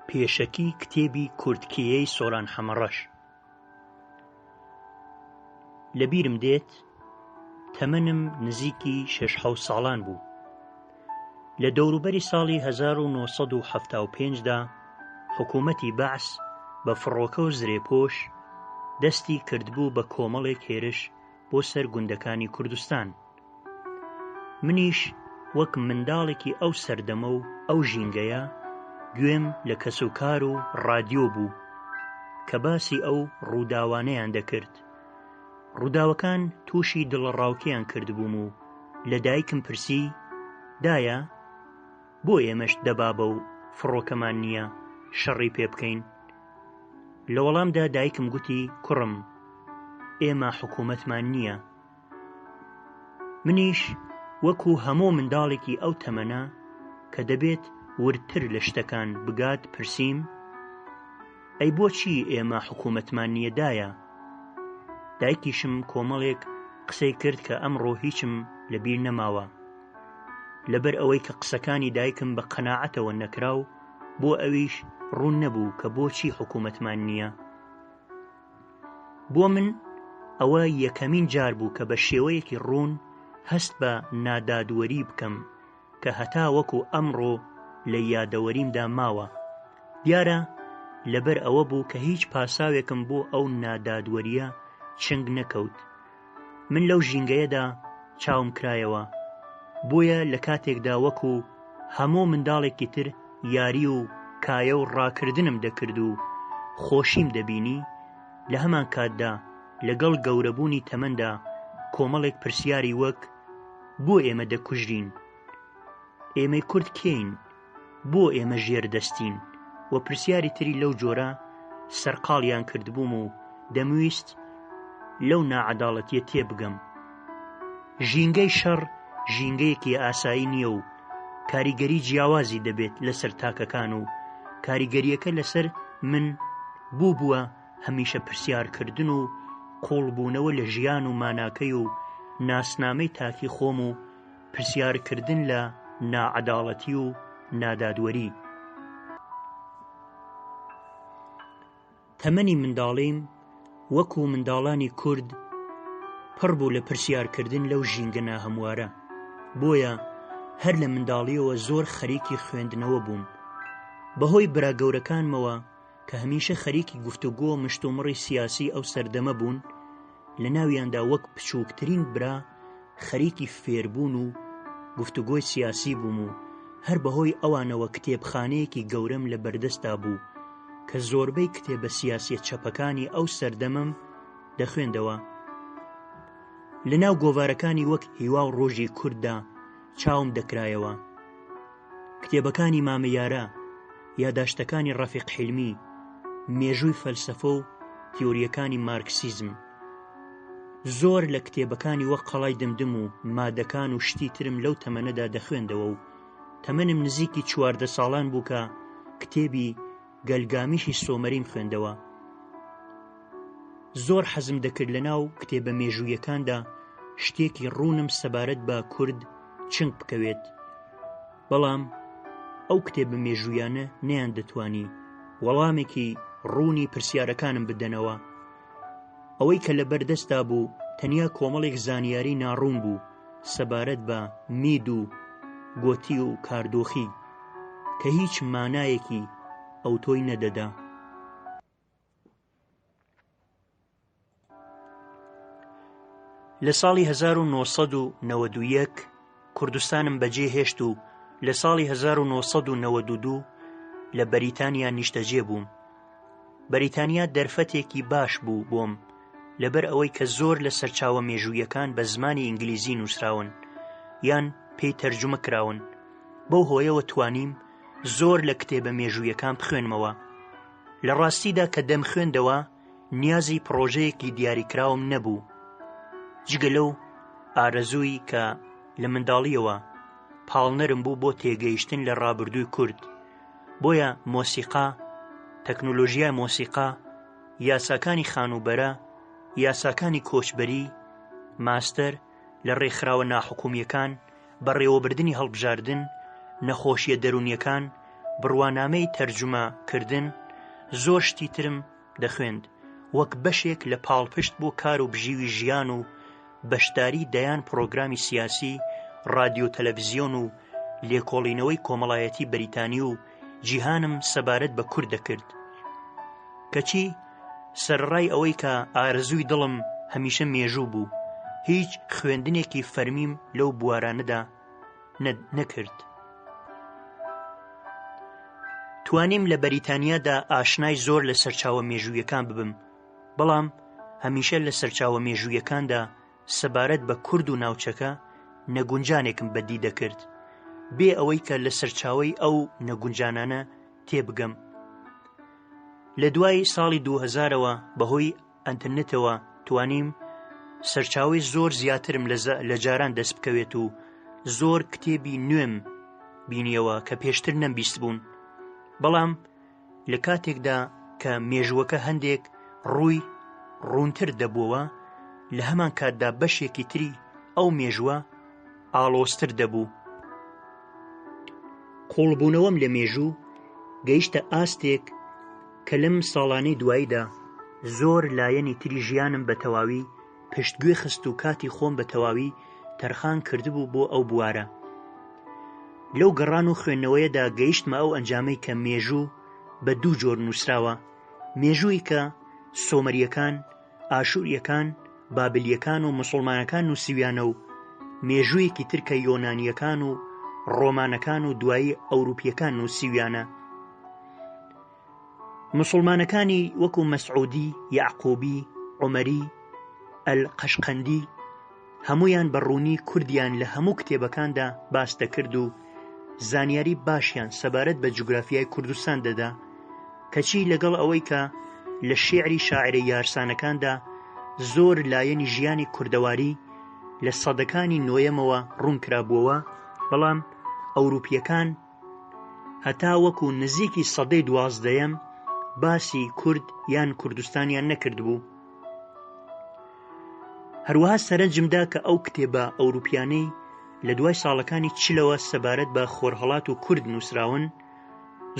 پێشەکی کتێبی کورتکێی سۆران حەمەڕەش لەبیرم دێت تەمەنم نزیکی شش حەوت ساڵان بوو لە دەوروبەری ساڵی 1970دا حکوومەتی بەعس بە فڕۆکە و زرێپۆش دەستی کردبوو بە کۆمەڵێک هێرش بۆ سەر گوندەکانی کوردستان منیش وەک منداڵێکی ئەو سەردەمە و ئەو ژینگەیە گوێم لە کەسوکار و ڕادیۆ بوو کە باسی ئەو ڕووداوانەیان دەکرد. ڕووداوەکان تووشی دڵەڕاوکێیان کردبووم و لە دایکم پرسی، دایە، بۆ ئێمەش دەبابە و فڕۆکەمان نییە شەڕی پێ بکەین؟ لە وەڵامدا دایکم گوتی، کوڕم، ئێمە حکوومەتمان نییە، منیش وەکو هەموو منداڵێکی ئەو تەمەنە کە دەبێت وردتر لە شتەکان بگات پرسیم، ئەی بۆچی ئێمە حکوومەتمان نییە دایە؟ دایکیشم کۆمەڵێک قسەی کرد کە ئەمڕۆ هیچم لە بیر نەماوە. لەبەر ئەوەی کە قسەکانی دایکم بە قەناعەتەوە نەکرا و بۆ ئەویش ڕوون نەبوو کە بۆچی حکوومەتمان نییە، بۆ من ئەوە یەکەمین جار بوو کە بە شێوەیەکی ڕوون هەست بە نادادوەری بکەم کە هەتا وەکو ئەمڕۆ لە یادەوەریمدا ماوە دیارە لەبەر ئەوە بوو کە هیچ پاساوێکم بۆ ئەو نادادوەریە چنگ نەکەوت من لەو ژینگەیەدا چاوم کرایەوە، بۆیە لە کاتێکدا وەکو هەموو منداڵێکی تر یاری و کایە و ڕاکردنم دەکرد و خۆشیم دەبینی، لە هەمانکاتدا لەگەڵ گەورەبوونی تەمەندا کۆمەڵێک پرسیاری وەک، بۆ ئێمە دەکوژرین؟ ئێمەی کورد کێین؟ بۆ ئێمە ژێر دەستین و پرسیاری تری لەو جۆرە سەرقاڵیان کردبووم و دەمویست لەو ناعەداڵەتیە تێبگەم. ژینگەی شەڕ ژینگەیەکی ئاسایی نییە و کاریگەری جیاوازی دەبێت لەسەر تاکەکان و کاریگەریەکە لەسەر من بووبووە هەمیشە پرسیارکردن و قوڵبوونەوە لە ژیان و ماناکەی و ناسنامەی تاکی خۆم و پرسیار کردن لە ناعەداڵەتی و نادادوەری. تەمەنی منداڵیم وەکوو منداڵانی کورد پڕ بوو لە پرسیار کردن لەو ژینگە ناهەموارە، بۆیە هەر لە منداڵییەوە زۆر خەریکی خوێندنەوە بووم، بەهۆی برا گەورەکانمەوە، کە هەمیشە خەریکی گفتوگۆ و مشتومڕی سیاسی ئەو سەردەمە بوون لە ناویاندا وەک بچووکترین برا خەریکی فێربوون و گفتوگۆی سیاسی بووم و هەر بەهۆی ئەوانەوە کتێبخانەیەکی گەورەم لە بەردەستدا بوو کە زۆربەی کتێبە سیاسیە چەپەکانی ئەو سەردەمەم دەخوێندەوە لە ناو گۆڤارەکانی وەک هیوا و ڕۆژی کورددا چاوم دەکرایەوە کتێبەکانی مامە یارە، یاداشتەکانی ڕەفیق حیلمی، مێژووی فەلسەفە و تیۆرییەکانی مارکسیزم. زۆر لە کتێبەکانی وەک قەڵای دمدم و مادەکان و شتی ترم لەو تەمەنەدا دەخوێندەوە و تەمەنم نزیکی چواردە ساڵان بوو کە کتێبی گەلگامیشی سۆمەریم خوێندەوە زۆر حەزم دەکرد لە ناو کتێبە مێژوویەکاندا شتێکی ڕوونم سەبارەت بە کورد چنگ بکەوێت بەڵام ئەو کتێبە مێژوویانە نیان دەتوانی وەڵامێکی ڕوونی پرسیارەکانم بدەنەوە ئەوەی کە لە بەردەستدا بوو تەنیا کۆمەڵێک زانیاری ناڕوون بوو سەبارەت بە مید و گۆتی و کاردۆخی کە هیچ مانایەکی ئەوتۆی نەدەدا. لە ساڵی 1991 کوردستانم بەجێ هێشت و لە ساڵی 1992 لە بەریتانیا نیشتەجێ بووم بەریتانیا دەرفەتێکی باش بوو بۆم، لەبەر ئەوەی کە زۆر لە سەرچاوە مێژوویەکان بە زمانی ئینگلیزی نووسراون یان پێی تەرجومە کراون، بەو هۆیەوە توانیم زۆر لە کتێبە مێژوویەکان بخوێنمەوە. لە ڕاستیدا کە دەمخوێندەوە نیازی پڕۆژەیەکی دیاریکراوم نەبوو، جگە لەو ئارەزووی کە لە منداڵییەوە پاڵنەرم بوو بۆ تێگەیشتن لە ڕابردووی کورد، بۆیە مۆسیقا، تەکنۆلۆژیای مۆسیقا، یاساکانی خانووبەرە، یاساکانی کۆچبەری، ماستەر لە ڕێکخراوە ناحکوومییەکان، بەڕێوەبردنی هەڵبژاردن، نەخۆشییە دەروونییەکان، بڕوانامەی تەرجومە کردن، زۆر شتی ترم دەخوێند، وەک بەشێک لە پاڵپشت بۆ کار و بژیوی ژیان و بەشداری دەیان پڕۆگرامی سیاسی، ڕادیۆ تەلەڤزیۆن و لێکۆڵینەوەی کۆمەڵایەتی بەریتانی و جیهانم سەبارەت بە کورد دەکرد. کەچی سەرەڕای ئەوەی کە ئارەزووی دڵم هەمیشە مێژوو بوو، هیچ خوێندنێکی فەرمیم لەو بوارانەدا نەکرد. توانیم لە بەریتانیادا ئاشنای زۆر لە سەرچاوە مێژوویەکان ببم بەڵام هەمیشە لە سەرچاوە مێژوویەکاندا سەبارەت بە کورد و ناوچەکە نەگونجانێکم بەدی دەکرد بێ ئەوەی کە لە سەرچاوی ئەو نەگونجانانە تێبگەم لە دوای ساڵی 2000ەوە بەهۆی ئەنتەرنێتەوە توانیم سەرچاوەی زۆر زیاترم لە جاران دەست بکەوێت و زۆر کتێبی نوێم بینیەوە کە پێشتر نەمبیست بوون بەڵام لە کاتێکدا کە مێژووەکە هەندێک ڕووی ڕوونتر دەبووەوە لە هەمان کاتدا بەشێکی تری ئەو مێژووە ئاڵۆزتر دەبوو. قووڵبوونەوەم لە مێژوو گەیشتە ئاستێک کە لەم ساڵانەی دواییدا زۆر لایەنی تری ژیانم بە تەواوی پشتگوێ خست و کاتی خۆم بە تەواوی تەرخان کردبوو بۆ ئەو بوارە. لەو گەڕان و خوێندنەوەیەدا گەیشتمە ئەو ئەنجامەی کە مێژوو بە دوو جۆر نووسراوە، مێژوویکە سۆمەرییەکان، ئاشوریەکان، بابلیەکان و موسوڵمانەکان نوسیویانە و مێژویەکی تر کە یۆنانیەکان و ڕۆمانەکان و دوایی ئەوروپیەکان نوسیویانە. موسوڵمانەکانی وەکو مەسعودی، یەعقوبی، عومەری، ئەل قەشقەندی، هەموویان بە ڕوونی کوردیان لە هەموو کتێبەکاندا باس دەکرد و زانیاری باشیان سەبارەت بە جوگرافیای کوردستان دەدا، کەچی لەگەڵ ئەوەی کە لە شیعری شاعرە یارسانەکاندا زۆر لایەنی ژیانی کوردەواری لە سەدەکانی نۆیەمەوە ڕوون کرابووەوە، بەڵام ئەوروپییەکان، هەتا وەکو نزیکی سەدەی دوازدەیەم باسی کورد یان کوردستانیان نەکردبوو هەروەها سەرنجمدا کە ئەو کتێبە ئەوروپیانەی لە دوای ساڵەکانی چلەوە سەبارەت بە خۆرهڵات و کورد نووسراون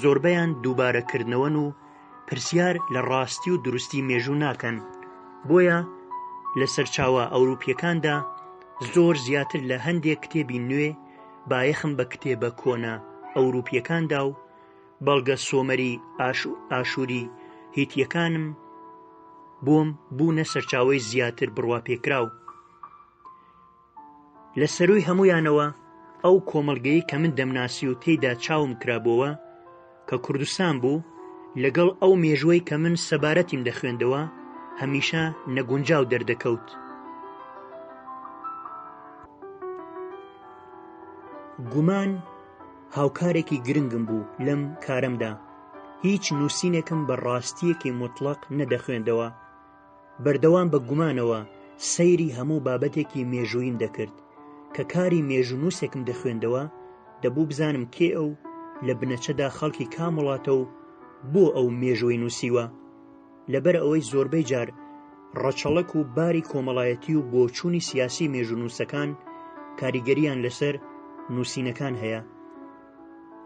زۆربیان دووبارەکردنەوەن و پرسیار لە ڕاستی و دروستی مێژوو ناکەن بۆیە لە سەرچاوە ئەوروپیەکاندا زۆر زیاتر لە هەندێک کتێبی نوێ بایەخم بە کتێبە کۆنە ئەوروپییەکان دا و بەڵگە سۆمەری، ئاشووری، هیتییەکانم بۆم بوونە سەرچاوەی زیاتر بڕواپێکراو. لە سەرووی هەموویانەوە ئەو کۆمەڵگەی کە من دەمناسی و تێیدا چاوم کرابۆوە، کە کوردستان بوو، لەگەڵ ئەو مێژووەی کە من سەبارەتیم دەخوێندەوە، هەمیشە نەگونجاو دەردەکەوت. گومان هاوکارێکی گرنگم بوو لەم کارەمدا، هیچ نووسینێکم بە ڕاستییەکی موتڵەق نەدەخوێندەوە، بەردەوام بە گومانەوە سەیری هەموو بابەتێکی مێژووییم دەکرد، کە کاری مێژوونووسێکم دەخوێندەوە، دەبوو بزانم کێ ئەو، لە بنەچەدا خەڵکی کام وڵاتە و بۆ ئەو مێژووەی نووسیوە؟ لەبەر ئەوەی زۆربەی جار ڕەچەڵەک و باری کۆمەڵایەتی و بۆچوونی سیاسی مێژوونووسەکان کاریگەرییان لەسەر نووسینەکان هەیە.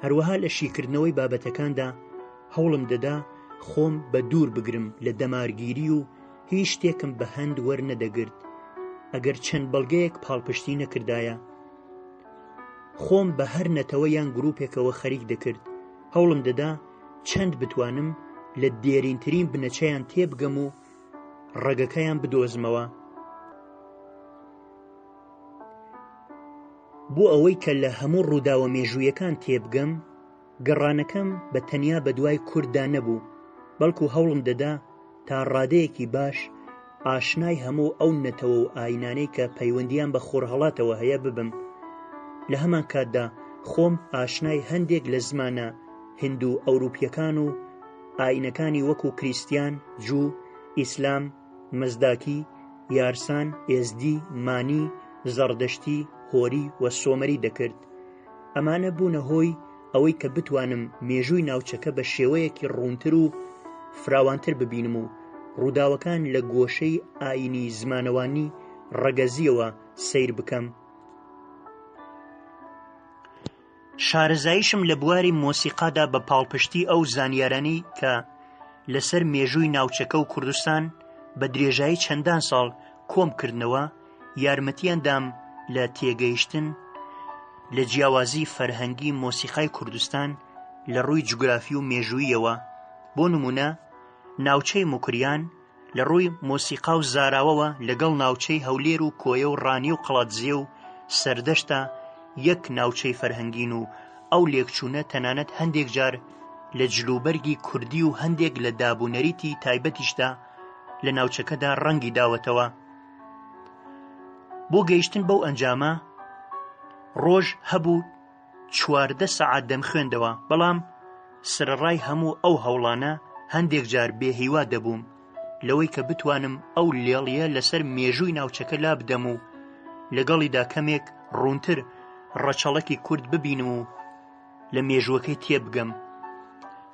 هەروەها لە شیکردنەوەی بابەتەکاندا هەوڵم دەدا خۆم بە دوور بگرم لە دەمارگیری و هیچ شتێکم بە هەند وەرنەدەگرت ئەگەر چەند بەڵگەیەک پاڵپشتی نەکردایە خۆم بە هەر نەتەوە یان گرروپێکەوە خەریک دەکرد هەوڵم دەدا چەند بتوانم لە دێرینترین بنەچەیان تێبگەم و ڕەگەکەیان بدۆزمەوە بۆ ئەوەی کە لە هەموو ڕووداوە مێژوویەکان تێبگەم، گەڕانەکەم بە تەنیا بە دوای کورددا نەبوو، بەڵکو هەوڵم دەدا تا ڕادەیەکی باش ئاشنای هەموو ئەو نەتەوە و ئاینانەی کە پەیوەندییان بە خۆرهەڵاتەوە هەیە ببم. لە هەمانکاتدا خۆم ئاشنای هەندێک لە زمانە هیندو-ئەوروپییەکان و ئاینەکانی وەکو کریستیان، جوو، ئیسلام، مەزداکی، یارسان، ئێزدی، مانی، زەڕدەشتی، هۆری و سۆمەری دەکرد. ئەمانە بوونە هۆی ئەوەی کە بتوانم مێژووی ناوچەکە بە شێوەیەکی ڕوونتر و فراوانتر ببینم و ڕووداوەکان لە گۆشەی ئایینی زمانەوانی ڕەگەزییەوە سەیر بکەم. شارەزاییشم لە بواری مۆسیقادا بە پاڵپشتی ئەو زانیارانەی کە لەسەر مێژووی ناوچەکە و کوردستان بە درێژایی چەندان ساڵ کۆم کردنەوە یارمەتیان دام لە تێگەیشتن لە جیاوازی فەرهەنگی مۆسیقای کوردستان لە ڕووی جوگرافی و مێژوویەوە بۆ نمونە ناوچەی مکریان لە ڕووی مۆسیقا و زاراوەوە لەگەڵ ناوچەی هەولێر و کۆیە و ڕانی و قڵادزێ و سەردەشتا یەک ناوچەی فەرهەنگین و ئەو لێکچوونە تەنانەت هەندێک جار لە جلوبەرگی کوردی و هەندێک لە داب و نەریتی تایبەتیشدا لە ناوچەکەدا ڕەنگی داوەتەوە بۆ گەیشتن بەو ئەنجامە ڕۆژ هەبوو چواردە سەعات دەمخوێندەوە، بەڵام سەرەڕای هەموو ئەو هەوڵانە هەندێک جار بێ هیوا دەبووم لەوەی کە بتوانم ئەو لێڵیە لەسەر مێژووی ناوچەکە لا بدەم و لەگەڵیدا کەمێک ڕوونتر ڕەچەڵەکی کورد ببینم و لە مێژووەکەی تێبگەم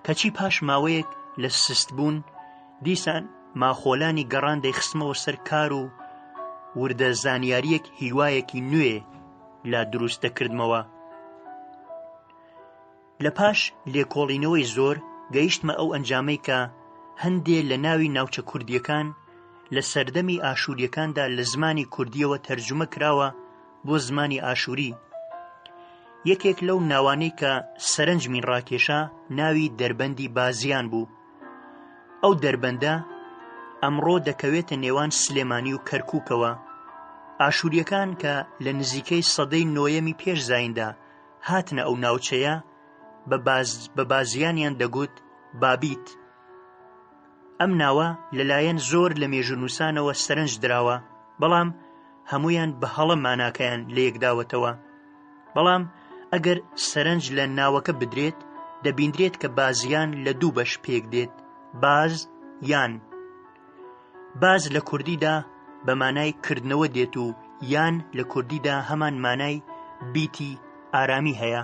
کەچی پاش ماوەیەک لە سست بوون دیسان ماخۆلانی گەڕان دەیخستمەوە سەر کار و وردە زانیاریەک هیوایەکی نوێ لا دروست دەکردمەوە. لە پاش لێکۆڵینەوەی زۆر گەیشتمە ئەو ئەنجامەی کە هەندێ لە ناوی ناوچە کوردییەکان لە سەردەمی ئاشووریەکاندا لە زمانی کوردیەوە تەرجومە کراوە بۆ زمانی ئاشووری یەکێک لەو ناوانەی کە سەرنجمی ڕاکێشا ناوی دەربەندی بازیان بوو ئەو دەربەندە ئەمڕۆ دەکەوێتە نێوان سلێمانی و کەرکووکەوە ئاشووریەکان کە لە نزیکەی سەدەی نۆیەمی پێش زیندا هاتنە ئەو ناوچەیە بە باز بە بازیانیان دەگوت بابیت ئەم ناوە لەلایەن زۆر لە مێژونووسانەوە سەرنج دراوە بەڵام هەمویان بە هەڵە ماناکەیان لە یەکداوەتەوە بەڵام ئەگەر سەرنج لە ناوەکە بدرێت دەبیندرێت کە بازیان لە دوو بەش پێک دێت باز یان باز لە کوردیدا بە مانای کردنەوە دێت و یان لە کوردیدا هەمان مانای بیتی ئارامی هەیە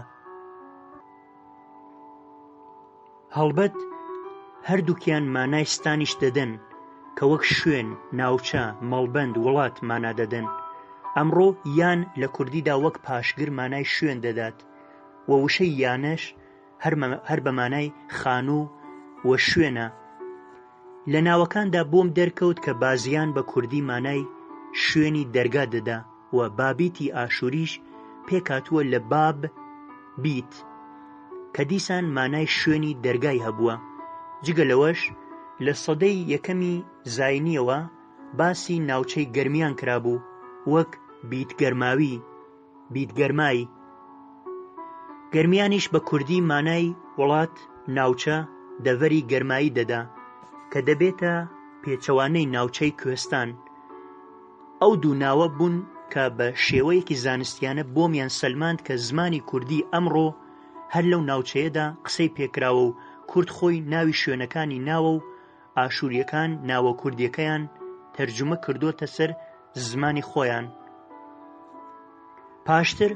هەڵبەت هەردووکیان مانای ستانیش دەدەن کە وەک شوێن، ناوچە، مەڵبەند، وڵات مانا دەدەن. ئەمڕۆ یان لە کوردیدا وەک پاشگر مانای شوێن دەدات و وشەی یانەش هەر بە مانای خانوو و شوێنە، لە ناوەکاندا بۆم دەرکەوت کە بازیان بە کوردی مانای شوێنی دەرگا دەدا و بابیتی ئاشووریش پێکهاتووە لە باب بیت کە دیسان مانای شوێنی دەرگای هەبووە جگە لەوەش لە سەدەی یەکەمی زاینیەوە باسی ناوچەی گەرمیان کرابوو وەک بیت گەرماوی. بیت گەرمای، گەرمیانیش بە کوردی مانای وڵات، ناوچە، دەڤەری گەرمایی دەدا کە دەبێتە پێچەوانەی ناوچەی کوێستان. ئەو دوو ناوە بوون کە بە شێوەیەکی زانستیانە بۆمیان سەلماند کە زمانی کوردی ئەمڕۆ هەر لەو ناوچەیەدا قسەی پێکراوە و کورد خۆی ناوی شوێنەکانی ناوە و ئاشوریەکان ناوە کوردیەکەیان تەرجومە کردۆتە سەر زمانی خۆیان پاشتر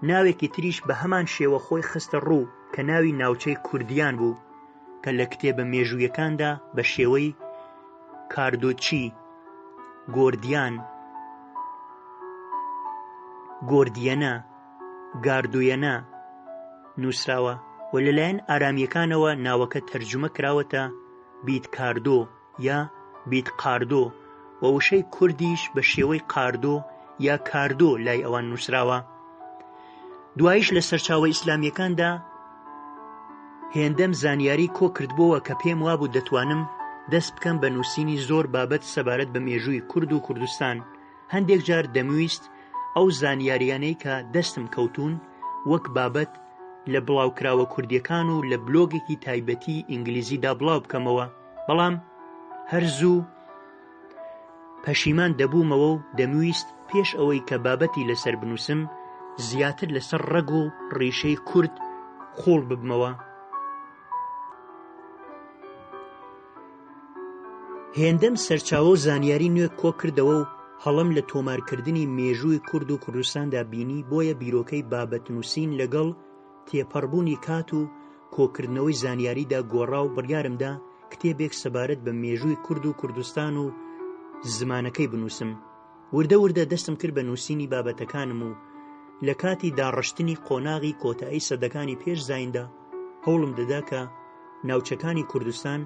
ناوێکی تریش بە هەمان شێوە خۆی خستە ڕوو کە ناوی ناوچەی کوردیان بوو کە لە کتێبە مێژوویەکاندا بە شێوەی کاردۆچی گۆردیان گۆردیەنە گاردویەنە نووسراوە و لەلایەن ئارامیەکانەوە ناوەکە تەرجمە کراوەتە بیتکاردۆ یا بیتقاردۆ و وشەی کوردیش بە شێوەی قاردۆ یا کاردۆ لای ئەوان نووسراوە دوایش لە سەرچاوە ئیسلامیەکاندا هێندەم زانیاری کۆ کردبووە کە پێم وابوو دەتوانم دەست بکەم بە نووسینی زۆر بابەت سەبارەت بە مێژووی کورد و کوردستان هەندێک جار دەمویست ئەو زانیاریانەی کە دەستم کەوتون وەک بابەت لە بڵاوکراوە کوردیەکان و لە بلۆگێکی تایبەتی ئینگلیزیدا بڵاو بکەمەوە بەڵام هەر زوو پەشیمان دەبوومەوە و دەمویست پێش ئەوەی کە بابەتی لەسەر بنووسم زیاتر لەسەر ڕەگ و ڕیشەی کورد قوڵ ببمەوە هێندەم سەرچاوە و زانیاری نوێ کۆ کردەوە و هەڵەم لە تۆمارکردنی مێژووی کورد و کوردستاندا بینی بۆیە بیرۆکەی بابەت نووسین لەگەڵ تێپەڕبوونی کات و کۆکردنەوەی زانیاریدا گۆڕا و بڕیارم دا کتێبێک سەبارەت بە مێژووی کورد و کوردستان و زمانەکەی بنووسم. وردە وردە دەستم کرد بە نووسینی بابەتەکانم و لە کاتی داڕشتنی قۆناغی کۆتایی سەدەکانی پێش زایندا هەوڵم دەدا کە ناوچەکانی کوردستان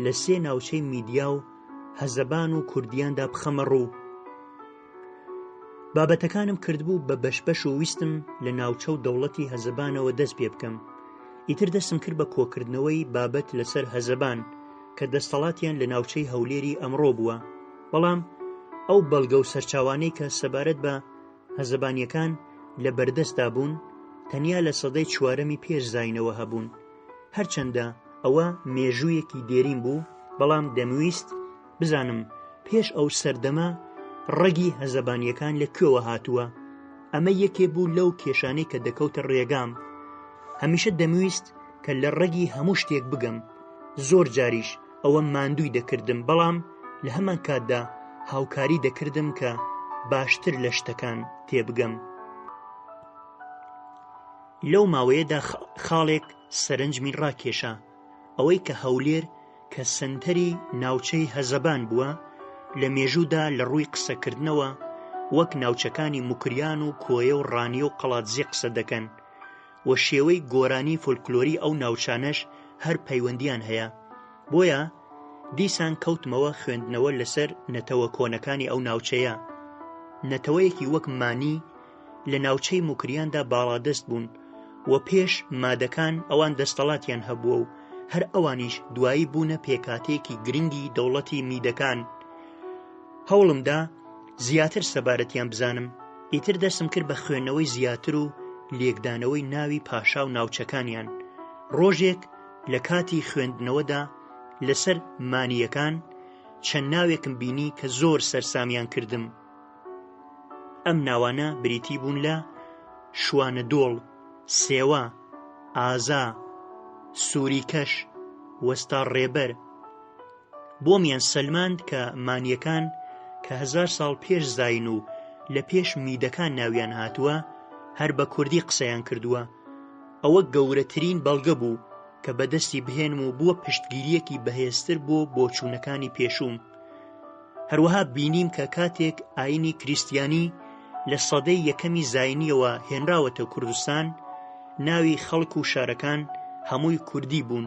لە سێ ناوچەی میدیا و هەزەبان و کوردیاندا بخەمە ڕوو بابەتەکانم کردبوو بە بەشبەش و ویستم لە ناوچە و دەوڵەتی هەزەبانەوە دەست پێ بکەم ئیتر دەستم کرد بە کۆکردنەوەی بابەت لەسەر هەزەبان کە دەستەڵاتیان لە ناوچەی هەولێری ئەمڕۆ بووە بەڵام ئەو بەڵگە و سەرچاوانەی کە سەبارەت بە هەزەبانیەکان لە بەردەستدا بوون تەنیا لە سەدەی چوارەمی پێش زینەوە هەبوون هەرچەندە ئەوە مێژوویەکی دێرین بوو بەڵام دەمویست بزانم پێش ئەو سەردەمە ڕەگی هەزەبانیەکان لە کوێوە هاتووە ئەمە یەکێ بوو لەو کێشانەی کە دەکەوتە ڕێگام هەمیشە دەمویست کە لە ڕەگی هەموو شتێک بگەم زۆر جاریش ئەوەم ماندووی دەکردم بەڵام لە هەمان کاتدا هاوکاری دەکردم کە باشتر لە شتەکان تێبگەم لەو ماوەیەدا خاڵێک سەرنجمی ڕاکێشا ئەوەی کە هەولێر کە سنتەری ناوچەی هەزەبان بووە لە مێژوودا لە ڕووی قسەکردنەوە وەک ناوچەکانی مکریان و کۆیە و ڕانیە و قەڵاتزیێ قسە دەکەن و شێوەی گۆرانی فۆلکلۆری ئەو ناوچانەش هەر پەیوەندییان هەیە، بۆیە دیسان کەوتمەوە خوێندنەوە لەسەر نەتەوە کۆنەکانی ئەو ناوچەیە. نەتەوەیەکی وەک مانی لە ناوچەی موکریاندا باڵادەست بوون و پێش مادەکان ئەوان دەستەڵاتیان هەبووە و هەر ئەوانیش دوایی بوونە پێکهاتەیەکی گرنگی دەوڵەتی میدەکان. هەوڵمدا. زیاتر سەبارەتیان بزانم، ئیتر دەستم کرد بە خوێندنەوەی زیاتر و لێکدانەوەی ناوی پاشا و ناوچەکانیان، ڕۆژێک لە کاتی خوێندنەوەدا لەسەر مانییەکان چەند ناوێکم بینی کە زۆر سەرسامیان کردم، ئەم ناوانە بریتی بوون لە، شوانەدۆڵ، سێوە، ئازا، سووریکەش، وەستاڕێبەر. بۆمیان سەلماند کە مانیەکان کە هەزار ساڵ پێش زاین و لە پێش میدەکان ناویان هاتووە هەر بە کوردی قسەیان کردووە ئەوە گەورەترین بەڵگە بوو کە بەدەستی بهێنم و بووە پشتگیریەکی بەهێزتر بۆ بۆچوونەکانی پێشووم هەروەها بینیم کە کاتێک ئاینی کریسیانی لە سەدەی یەکەمی زاینیەوە هێنراوەتە کوردستان ناوی خەڵک و شارەکان هەمووی کوردی بوون